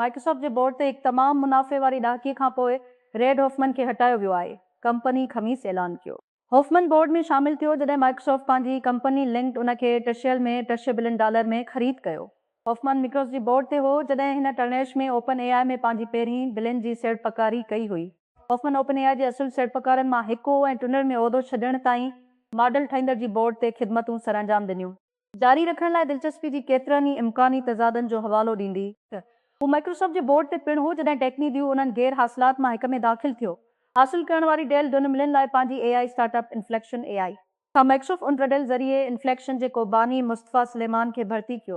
Microsoft جي board تي هڪ تمام منافعي واري ڏهاڪي کانپوء ريڊ هوفمن کي هٽايو ويو آهي، ڪمپني خميس اعلان ڪيو. هوفمن بورڊ ۾ شامل ٿيو جڏهن مائڪروسافٽ پنهنجي ڪمپني لنڪڊ ان کي ٽه شيل ۾ ٽه شيبلين ڊالر ۾ خريد ڪيو. هوفمان مڪروس جي بورڊ تي هو جڏهن هن ٽرنيش ۾ اوپن اي آء ۾ پنهنجي پهرين بلين جي سيڙپڪاري ڪئي هئي. هوفمان اوپن اي آء جي اصل سيڙپڪارن مان هڪ هو ۽ ٽونر ۾ عهدو ڇڏڻ تائين ماڊل ٺاهيندڙ جي بورڊ تي خدمتون سرانجام ڏنيون. جاري رکڻ لاء دلچسپي جي ڪيترن ئي امڪاني تضادن جو حوالو ڏيندي ته هو مائڪروسافٽ جي بورڊ تي پڻ هو جڏهن ٽيڪني ديو انهن غير حاصلات مان هڪ ۾ داخل ٿيو. حاصل ڪرڻ واري ڊيل ڊنملن لاء پنهنجي A I start up inflection A I کان مئڪشف ان رڊل ذريعي انفليڪشن جي ڪوباني مصطفيٰ سليمان کي ڀرتي ڪيو.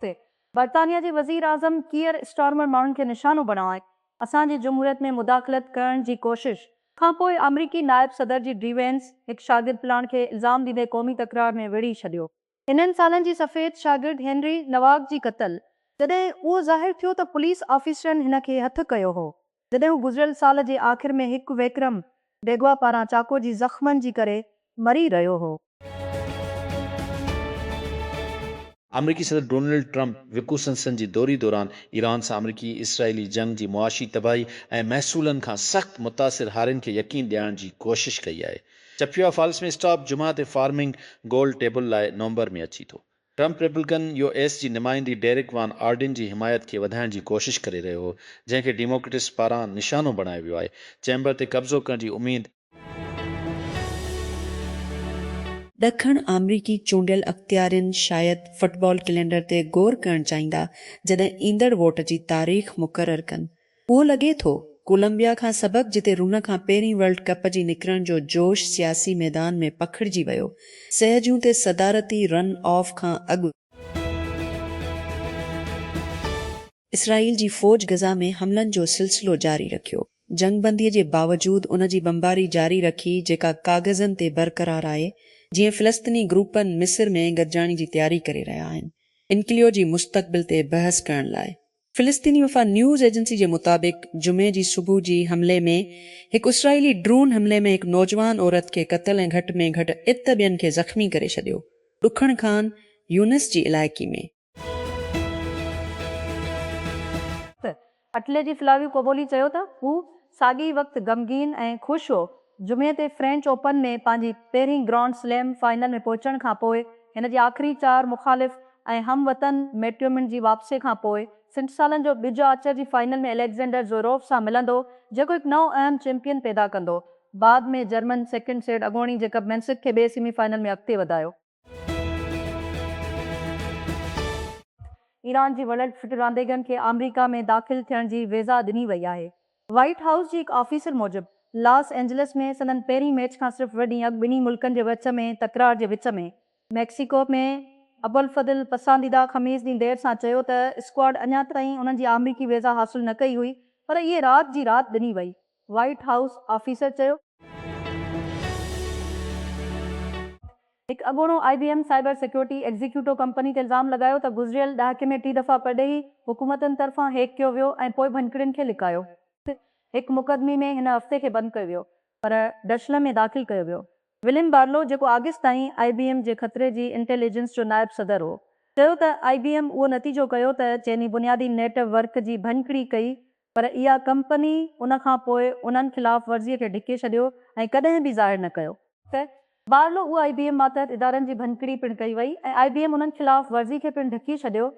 تي برطانيا جي وزير اعظم ڪيئر اسٽارمر ماڻهن کي نشانو بڻائي اسان جي جمهوريت ۾ مداخلت ڪرڻ جي ڪوشش. کان پوء آمريڪي نائب صدر جي ڊي وينس هڪ شاگرد پلاڻ کي الزام ڏيندي قومي تڪرار ۾ ويڙهي ڇڏيو. انهن سالن جي سفيد شاگرد هينري نواڪ جي قتل جڏهن اهو ظاهر ٿيو ته پوليس آفيسرن هن کي هٿ ڪيو هو جڏهن هو گذريل سال جي آخر ۾ هڪ وڪرم ڊيگوا پاران چاقو جي زخمن جي ڪري مري رهيو هو. آمريڪي صدر ڊونلڊ ٽرمپ وڪوسنسن جي دوري دوران ايران سان آمريڪي اسرائيلي جنگ جي معاشي تباهي ۽ محصولن کان سخت متاثر هارين کي يقين ڏيارڻ جي ڪوشش ڪئي آهي. چپيا فالس ۾ اسٽاپ جمعه تي فارمنگ گول ٽيبل لاء نومبر ۾ اچي ٿو. ٽرمپ ريپبلڪن يو ايس جي نمائندي ڊيرڪ وان آرڊين جي حمايت کي وڌائڻ جي ڪوشش ڪري رهيو هو جنهن کي ڊيموڪريٽس پاران نشانو بڻايو ويو آهي چيمبر تي قبضو ڪرڻ جي اميد ڏکڻ آمريڪي چونڊيل اختيارين شايد فٽبال ڪلينڊر تي غور ڪرڻ چاهيندا جڏهن ايندڙ ووٽ جي تاريخ مقرر ڪن. اهو لڳي ٿو ڪولمبيا کان سبب جتي رن کان پهرين ورلڊ ڪپ جي نڪرڻ جو جوش سياسي ميدان ۾ پکڙجي ويو، سهجون تي صدارتي رن آف کان اڳ، اسرائيل جي فوج غزه ۾ حملن جو سلسلو جاري رکيو، جنگ بندي جي باوجود ان جي بمباري جاري رکي جيڪا ڪاغذن تي برقرار آهي، جيئن فلسطني گروپن مصر ۾ گڏجاڻي جي تياري ڪري رهيا آهن، انڪليو جي مستقبل تي بحث ڪرڻ لاء. فلسطيني وفا نيوز ايجنسي جي مطابق جمعي جي صبح جي حملي ۾ هڪ اسرائيلي ڊرون حملي ۾ هڪ نوجوان عورت کي قتل ۽ گهٽ ۾ گهٽ ات ٻين کي زخمي ڪري ڇڏيو ڏکڻ خان يونس جي علائقي ۾. اٽلي جي فلاويو ڪوبولي چيو ته هو ساڳئي وقت غمگين ۽ خوش هو. جمعي تي فرينچ اوپن ۾ پنهنجي پهرين گرانڊ سليم فائنل ۾ پهچڻ کان پوء هن جي آخري چار مخالف ۽ هم وطن ميٽيومن جي واپسي کان پوء سٺ سالن جو ٻج آچر جي فائنل ۾ اليگزينڊر زوروف سان ملندو جيڪو هڪ نئون اهم چيمپيئن پيدا ڪندو. بعد ۾ جرمن سيڪنڊ سيڊ اڳوڻي جيڪب مينسڪ کي ٻئي سيمي فائنل ۾ اڳتي وڌايو. ايران جي وڏن ڦٽ رانديگرن کي آمريڪا ۾ داخل ٿيڻ جي ويزا ڏني وئي آهي. وائيٽ هائوس جي هڪ آفيسر موجب لاس اينجلس ۾ سندن پهرين ميچ کان صرف ٻه ڏينهن اڳ ٻنهي ملڪن جي وچ ۾ تڪرار جي وچ ۾ ميڪسيڪو ۾ ابوالفضل پسنديده خميس ڏينهن دير سان چيو ته اسڪواڊ اڃا تائين انهن جي آمريڪي ويزا حاصل نه ڪئي هئي پر اهي رات جي رات ڏني وئي. وائيٽ هائوس آفيسر چيو. هڪ اڳوڻو I B M cyber security executive company تي الزام لڳايو ته گذريل ڏهاڪي ۾ ٽي دفعا پرڏيهي حڪومتن طرفان هيڪ ڪيو ويو ۽ پوء ڀڃڪڙين کي لڪايو. هڪ مقدمي ۾ هن هفتي کي بند ڪيو ويو پر ڊشلم ۾ داخل ڪيو ويو. وليم بارلو جيڪو آگسٽ تائين آء بي ايم جي خطري جي انٽيل ايجنس جو نائب صدر هو چيو ته آء بي ايم اهو نتيجو ڪيو ته چيني بنيادي نيٽ ورڪ جي ڀڃڪڙي ڪئي پر اها ڪمپني ان کان پوء انهن خلاف ورزي کي ڍڪي ڇڏيو ۽ ڪڏهن به ظاهر نه ڪيو. ته بارلو اهو آئي بي ايم ماتحت ادارن جي ڀڃڪڙي پڻ ڪئي وئي ۽ آئي بي ايم انهن خلاف ورزي کي پڻ ڍڪي ڇڏيو.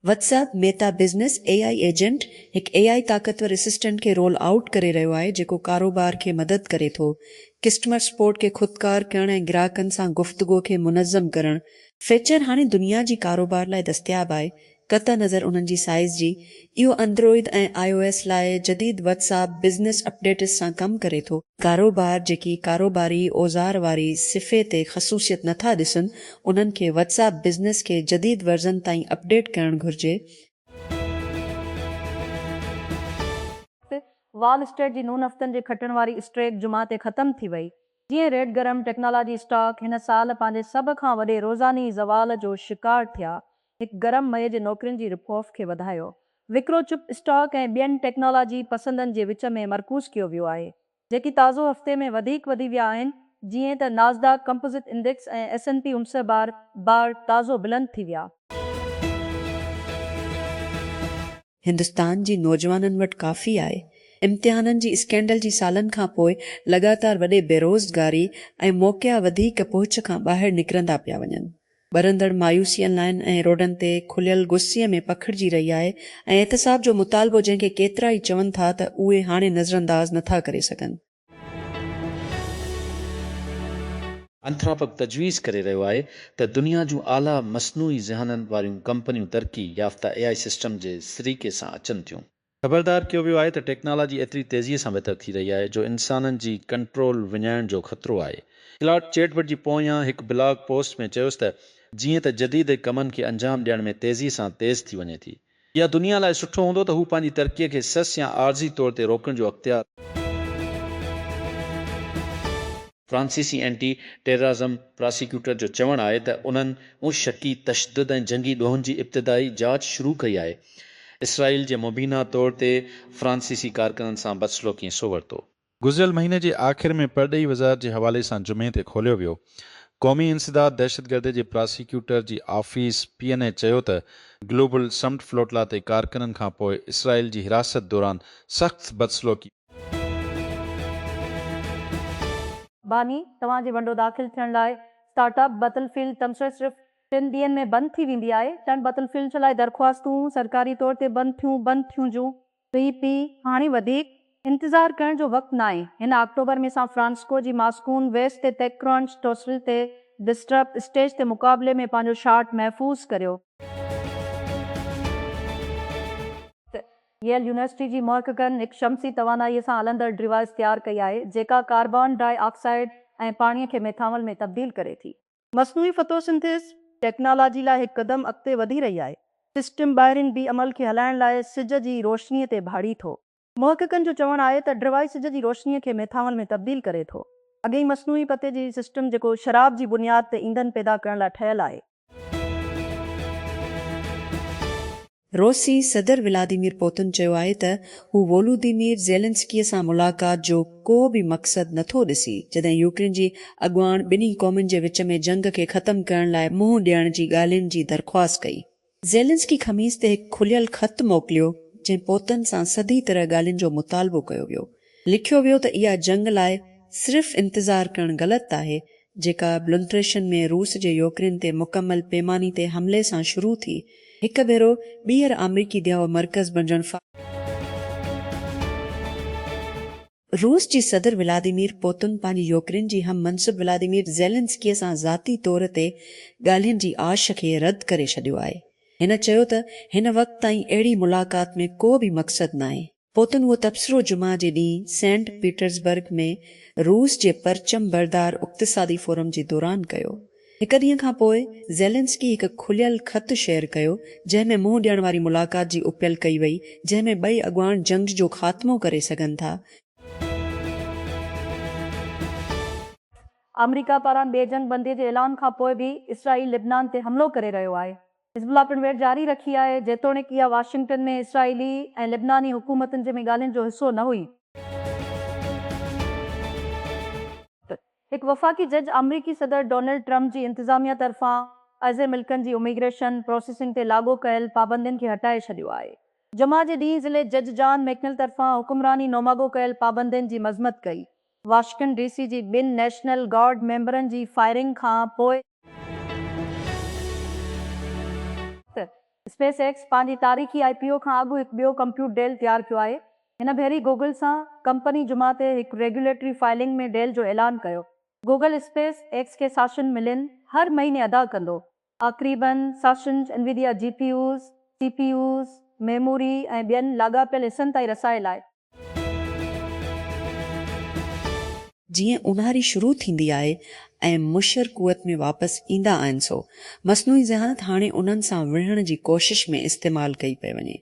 WhatsApp Meta business A I agent هڪ اي آئي طاقتور اسسٽنٽ کي رول آئوٽ ڪري رهيو آهي جيڪو ڪاروبار کي مدد ڪري ٿو ڪسٽمر سپورٽ کي خودڪار ڪرڻ ۽ گراهڪن سان گفتگو کي منظم ڪرڻ فيچر هاڻي دنيا جي ڪاروبار لاء دستياب آهي، قطع نظر انهن جي سائيز جي، اهو اندروئيد ۽ آء او ايس لاء جديد واٽس اپ بزنس اپڊيٽس سان ڪم ڪري ٿو. ڪاروبار جيڪي ڪاروباري اوزار واري صفحي تي خصوصيت نٿا ڏسن، انهن کي واٽس اپ بزنس کي جديد ورزن تائين اپڊيٽ ڪرڻ گهرجي. وال اسٽريٽ جي نون هفتن جي کٽڻ واري اسٽريڪ جمعه تي ختم ٿي وئي، جيئن ريڊ گرم ٽيڪنالاجي اسٽاڪ هن سال پنهنجي سڀ کان وڏي روزاني زوال جو شڪار ٿيا، هڪ گرم مئي جي نوڪرين جي رپ آف کي وڌايو. وڪرو چپ اسٽاڪ ۽ ٻين ٽيڪنالاجي پسندن جي وچ ۾ مرڪوز ڪيو ويو آهي، جيڪي تازو هفتي ۾ وڌيڪ وڌي ويا آهن، جيئن ته Nasdaq composite index ۽ S N P امسه بار بار تازو بلند ٿي ويا. هندستان جي نوجوانن وٽ ڪافي آهي. امتحانن جي اسڪينڊل جي سالن کان پوء لڳاتار وڏي بيروزگاري ۽ موقعا وڌيڪ پهچ کان ٻاهر نڪرندا پيا وڃن. ٻرندڙ مايوسي ان لائن ۽ روڊن تي کليل غصي ۾ پکڙجي رهي آهي ۽ احتساب جو مطالبو جنهن کي ڪيترائي چون ٿا ته اهي هاڻي نظرانداز نٿا ڪري سگهن. انٿراپڪ تجويز ڪري رهيو آهي ته دنيا جون اعليٰ مصنوعي ذهانن واريون ڪمپنيون ترقي يافته اي آء سسٽم جي سريڪي سان اچن ٿيون. خبردار ڪيو ويو آهي ته ٽيڪنالاجي ايتري تيزيء سان بهتر ٿي رهي آهي جو انسانن جي ڪنٽرول وڃائڻ جو خطرو آهي. ڪلاڊ چيٽ بٽ جي پويان هڪ بلاگ پوسٽ ۾ چيس ته جيئن ته جديد ڪمن کي انجام ڏيڻ ۾ تيزيء سان تيز ٿي وڃي ٿي، يا دنيا لاء سٺو هوندو ته هو پنهنجي ترقيء کي سس يا عارضي طور تي روڪڻ جو اختيار. فرانسيسي اينٽي ٽيررازم پراسيڪيوٽر جو چوڻ آهي ته انهن ان شڪي تشدد ۽ جنگي ڏوهن جي ابتدائي جاچ شروع ڪئي آهي اسرائيل جي مبينا طور تي فرانسيسي ڪارڪنن سان بدسلوڪيء سو ورتو. گذريل مهيني جي آخر ۾ پرڏيهي وزارت جي حوالي سان جمعي تي کوليو ويو قومي انسداد دهشتگردي جي پراسيڪيوٽر جي آفيس پي اين اي چيو ته گلوبل سمٽ فلوٽلا تي ڪارڪنن کان پوء اسرائيل جي حراست دوران سخت بدسلوڪي باني، توهان جي ونڊو داخل ٿيڻ لاء اسٽارٽ اپ بتل فيلڊ تبصري صرف ٽن ڏينهن ۾ بند ٿي ويندي آهي ٽن بتل فيلڊ لاء درخواستون سرڪاري طور تي بند ٿيون بند ٿيون جون پي پي، هاڻي وڌيڪ انتظار ڪرڻ جو وقت ناهي، هن آڪٽوبر ۾ سان فرانسسڪو جي ماسڪون ويسٽ تي تيڪ ڪرون سٽوسل تي ڊسٽرپ اسٽيج تي مقابلي ۾ پنهنجو شاٽ محفوظ ڪريو. ته ييل يونيورسٽي جي محققن هڪ شمسي توانائيء سان هلندڙ ڊوائيس تيار ڪئي آهي، جيڪا ڪاربان ڊاء آڪسائيڊ ۽ پاڻيء کي ميٿانول ۾ تبديل ڪري ٿي. مصنوعي فتو سنٿيز ٽيڪنالاجي لاء هڪ قدم اڳتي وڌي رهي آهي. سسٽم ٻاهرين بي عمل کي هلائڻ لاء سج جي روشني تي ڀاڙي ٿو. محققن جو چوڻ آهي ته ڊرواء سج جي روشني کي ميٿانول ۾ تبديل ڪري ٿو. اڳي ئي مصنوعي پتي جي سسٽم جيڪو شراب جي بنياد تي ايندھن پيدا ڪرڻ لاء ٺهيل آهي. روسي صدر ولاديمير پوتن چيو آهي ته هو وولوديمير زيلنسڪيء سان ملاقات جو ڪو به مقصد نٿو ڏسي، جڏهن يوڪرين جي اڳواڻ ٻنهي قومن جي وچ ۾ جنگ کي ختم ڪرڻ لاء منهن ڏيڻ جي ڳالهين جي درخواست ڪئي. زيلنسڪي خميس تي هڪ کليل خط موڪليو، جنهن پوتن سان سڌي طرح ڳالهين جو مطالبو ڪيو ويو. لکيو ويو ته اها جنگ لاء صرف انتظار ڪرڻ غلط آهي، جيڪا بلونٽريشن ۾ روس جي يوڪرين تي مڪمل پيماني تي حملي سان شروع ٿي هڪ ڀيرو ٻيهر آمريڪي ديهو مرڪز بڻجڻ فا. روس جي صدر ولاديمير پوتن پنهنجي يوڪرين جي هم منصب ولاديمير زيلنسڪي سان ذاتي طور تي ڳالهين جي آش کي رد ڪري ڇڏيو آهي هن چيو ته هن وقت تائين اهڙي ملاقات ۾ ڪو به مقصد ناهي پوء تون اهو تبصرو جمعه جي ڏينهن سينٽ پيٽرزبرگ ۾ روس جي پرچم بردار اقتصادي فورم جي دوران ڪيو. هڪ ڏينهن کان پوء زيلنسڪي هڪ کليل خط شيئر ڪيو، جنهن ۾ منهن ڏيڻ واري ملاقات جي اپيل ڪئي وئي، جنهن ۾ ٻئي اڳواڻ جنگ جو خاتمو ڪري سگهن ٿا. آمريڪا پاران ٻي جنگ بندي جي اعلان کان پوء به اسرائيل لبنان تي حملو ڪري رهيو آهي. حزب الله پڻ ويڙهه جاري رکي آهي، جيتوڻيڪ اها واشنگٽن ۾ اسرائيلي ۽ لبناني حڪومتن جي ۾ ڳالهين جو حصو نه هئي. هڪ وفاقي جج آمريڪي صدر ڊونلڊ ٽرمپ جي انتظاميه طرفان اعضي ملڪن جي اميگريشن پروسيسنگ تي لاڳو ڪيل پابندين کي هٽائي ڇڏيو آهي. جمعه جي ڏينهن ضلعي جج جان ميڪنل طرفان حڪمراني نوماڳو ڪيل پابندين جي مذمت ڪئي. واشنگٽن ڊي سي جي ٻن نيشنل گارڊ ميمبرن جي فائرنگ کان پوء، اسپيس ايڪس پنهنجي تاريخي آء پي او کان اڳ هڪ ٻيو ڪمپيوٽ ڊيل تيار ڪيو آهي. هن ڀيري گوگل سان ڪمپني جمعه تي هڪ ريگيوليٽري فائلنگ ۾ ڊيل جو اعلان ڪيو. گوگل اسپيس ايڪس کي ساشن ملين هر مهيني ادا ڪندو. آخريباً ساشنز Nvidia G P Us, C P Us, memory ۽ ٻين لاڳاپيل حصن تائين رسائي لاء جيئن اونهاري شروع ٿيندي آهي ۽ مشر قوت ۾ واپس ايندا آهن سو مصنوعي ذهانت هاڻي انهن سان وڙهڻ جي ڪوشش ۾ استعمال ڪئي پئي وڃي.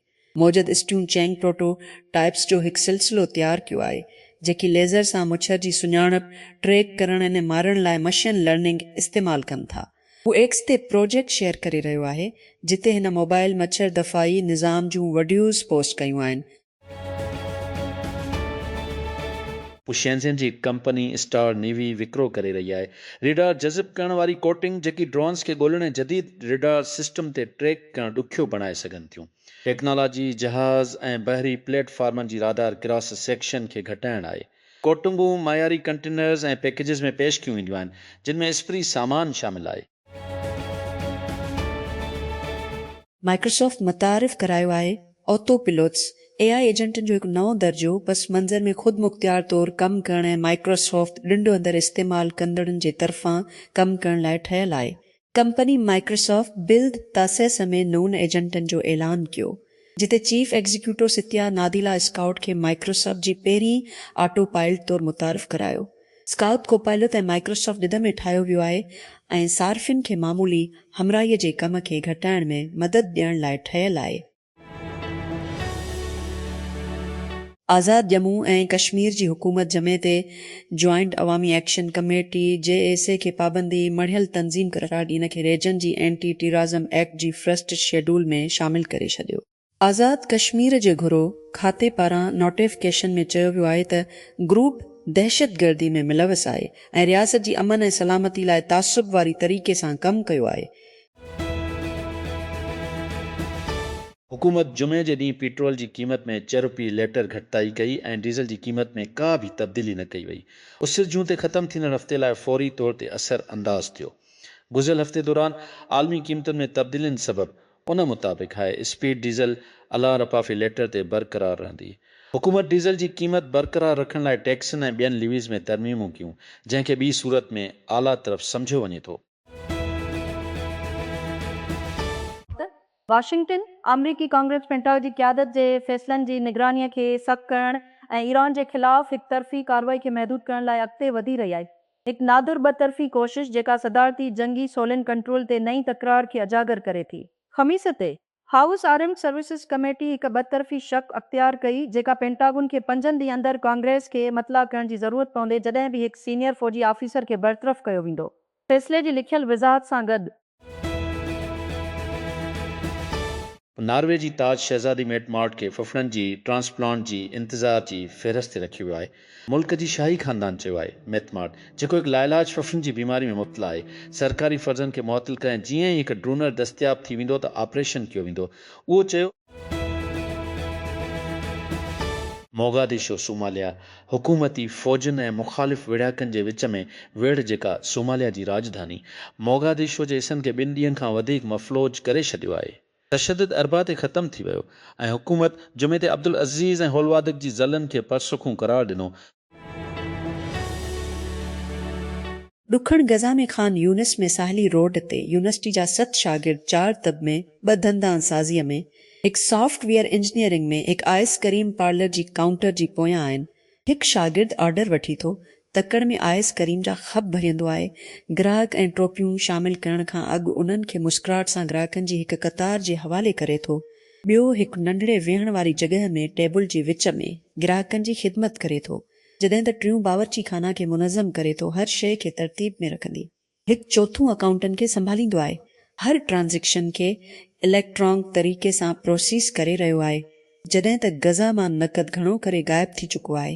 موجد اسٽيون چينگ پروٽو ٽائيپس جو هڪ سلسلو تيار ڪيو آهي جيڪي ليزر سان مڇر جي سڃاڻپ، ٽريڪ ڪرڻ ۽ مارڻ لاء مشين لرننگ استعمال ڪن ٿا. هو ايڪس تي پروجيڪٽ شيئر ڪري رهيو آهي جتي هن موبائل مڇر دفاعي نظام جون وڊيوز پوسٽ ڪيون آهن. هو شينزين جي ڪمپني اسٽار نيوي وڪرو ڪري رهي آهي. ريڊار جذب ڪرڻ واري ڪوٽنگ، جيڪي ڊرونز کي ڳولڻ ۽ جديد ريڊار سسٽم تي ٽريڪ ڪرڻ ڏکيو بڻائي سگهن ٿيون. ٽيڪنالاجي جهاز ۽ بحري پليٽ فارمن جي رادار ڪراس سيڪشن کي گهٽائڻ آهي. ڪوٽنگون معياري ڪنٽينرز ۽ پيڪيجز ۾ پيش ڪيون وينديون آهن، جن ۾ اسپري سامان شامل آهي. مائڪروسافٽ متعارف ڪرايو آهي آتو پيلوٽس، اي آء ايجنٽن جو هڪ نئون درجو، پس منظر ۾ خود مختيار طور ڪم ڪرڻ ۽ مائڪروسافٽ ڏنڊ اندر استعمال ڪندڙن جي طرفان ڪم ڪرڻ لاء ٺهيل آهي. ڪمپني مائڪروسافٽ بلد تاسيس ۾ نون ايجنٽن جو اعلان ڪيو جتي chief executive Satya Nadella scout کي مائڪروسافٽ جي پهرين آٽو پائلٽ طور متعارف ڪرايو. اسڪائوٽ ڪوپائلوت ۽ مائڪروسافٽ ڏڌ ۾ ٺاهيو ويو آهي ۽ صارفين کي معمولي همراهي جي ڪم کي گهٽائڻ ۾ مدد ڏيڻ لاء ٺهيل آهي. آزاد ڄمون ۽ ڪشمير جي حڪومت جمعي تي joint Awami action committee, J A C, کي پابندي مڙهيل تنظيم قرار ڏئي ان کي ريجن جي اينٽي ٽيرازم ايڪٽ جي فرسٽ شيڊول ۾ شامل ڪري ڇڏيو. آزاد ڪشمير جي گهرو کاتي پاران نوٽيفڪيشن ۾ چيو ويو آهي ته گروپ دهشتگردي ۾ ملوث آهي ۽ رياست جي امن ۽ سلامتي لاء تعصب واري طريقي سان ڪم ڪيو آهي. حڪومت جمعي جي ڏينهن پيٽرول جي قيمت ۾ چه روپيه ليٽر گهٽتائي ڪئي ۽ ڊيزل جي قيمت ۾ ڪا به تبديلي نه ڪئي وئي. اسر جون تي ختم ٿيندڙ هفتي لاء فوري طور تي اثر انداز ٿيو. گذريل هفتي دوران عالمي قيمتن ۾ تبديلين سبب ان مطابق هاء اسپيڊ ڊيزل الا رپا في ليٽر تي برقرار رهندي. حڪومت ڊيزل جي قيمت برقرار رکڻ لاء ٽيڪسن ۽ ٻين ليويز ۾ ترميمون ڪيون، جنهن کي ٻي صورت ۾ آلا طرف سمجهيو وڃي ٿو. واشنگٽن، آمريڪي ڪانگريس پينٽاگ جي قيادت جي فيصلن جي نگرانيء کي سخت ڪرڻ ۽ ايران جي خلاف هڪ طرفي ڪارروائي کي محدود ڪرڻ لاء اڳتي وڌي رهي آهي. هڪ نادر ٻه طرفي ڪوشش جيڪا صدارتي جنگي سولين ڪنٽرول تي نئين تڪرار کي اجاگر ڪري ٿي. خميس تي، هائوس آرمڊ سروسز ڪميٽي هڪ ٻطرفي شق اختيار ڪئي جيڪا پينٽاگون کي پنجن ڏينهن اندر ڪانگريس کي مطلع ڪرڻ جي ضرورت پوندي جڏهن به هڪ سينيئر فوجي آفيسر کي برطرف ڪيو ويندو فيصلي جي لکيل وضاحت سان گڏ. ناروي جي تاج شهزادي ميٽ مارٽ کي ڦڦڙن جي ٽرانسپلانٽ جي انتظار جي فهرست تي رکيو ويو آهي. ملڪ جي شاهي خاندان چيو آهي ميٿ مارٽ جيڪو هڪ لاعلاج ڦڦن جي بيماري ۾ مبتلا آهي سرڪاري فرضن کي معطل ڪري ۽ جيئن ئي هڪ ڊونر دستياب ٿي ويندو ته آپريشن ڪيو ويندو اهو چيو موگاديشو، صوماليا، حڪومتي فوجن ۽ مخالف ويڙهاڪن جي وچ ۾ ويڙهه جيڪا صوماليا جي راڄڌاني موگاديشو جي حصن کي ٻن ڏينهن کان وڌيڪ مفلوج ڪري ڇڏيو آهي. تشدد اربع تي ختم ٿي ويو ۽ حڪومت جمعي تي عبدالعزيز ۽ هولوادڪ جي ضلعن کي پرسکون قرار ڏنو. ڏکڻ غزه ۾ خان يونس ۾ ساحلي روڊ تي يونيورسٽي جا ست شاگرد چار طب ۾ ٻه دندان سازيء ۾ هڪ سافٽ ويئر انجنيئرنگ ۾ هڪ آئس ڪريم پارلر جي ڪائونٽر جي پويان آهن هڪ شاگرد آرڊر وٺي ٿو، تڪڙ ۾ آيس ڪريم جا خپ ڀريندو آهي، گراهڪ ۽ ٽوپيون شامل ڪرڻ کان اڳ انهن کي مسڪراهٽ سان گراهڪن جي هڪ قطار جي حوالي ڪري ٿو، ٻيو هڪ ننڍڙي ويهڻ واري جڳهه ۾ ٽيبل جي وچ ۾ گراهڪن جي خدمت ڪري ٿو، جڏهن ته ٽيون باورچي خانه کي منظم ڪري ٿو، هر شيء کي ترتيب ۾ رکندي. هڪ چوٿون اڪائونٽن کي سنڀاليندو آهي هر ٽرانزيڪشن کي اليڪٽرانڪ طريقي سان پروسيس ڪري رهيو آهي جڏهن ته غزه مان نقد گهڻو ڪري غائب ٿي چڪو آهي.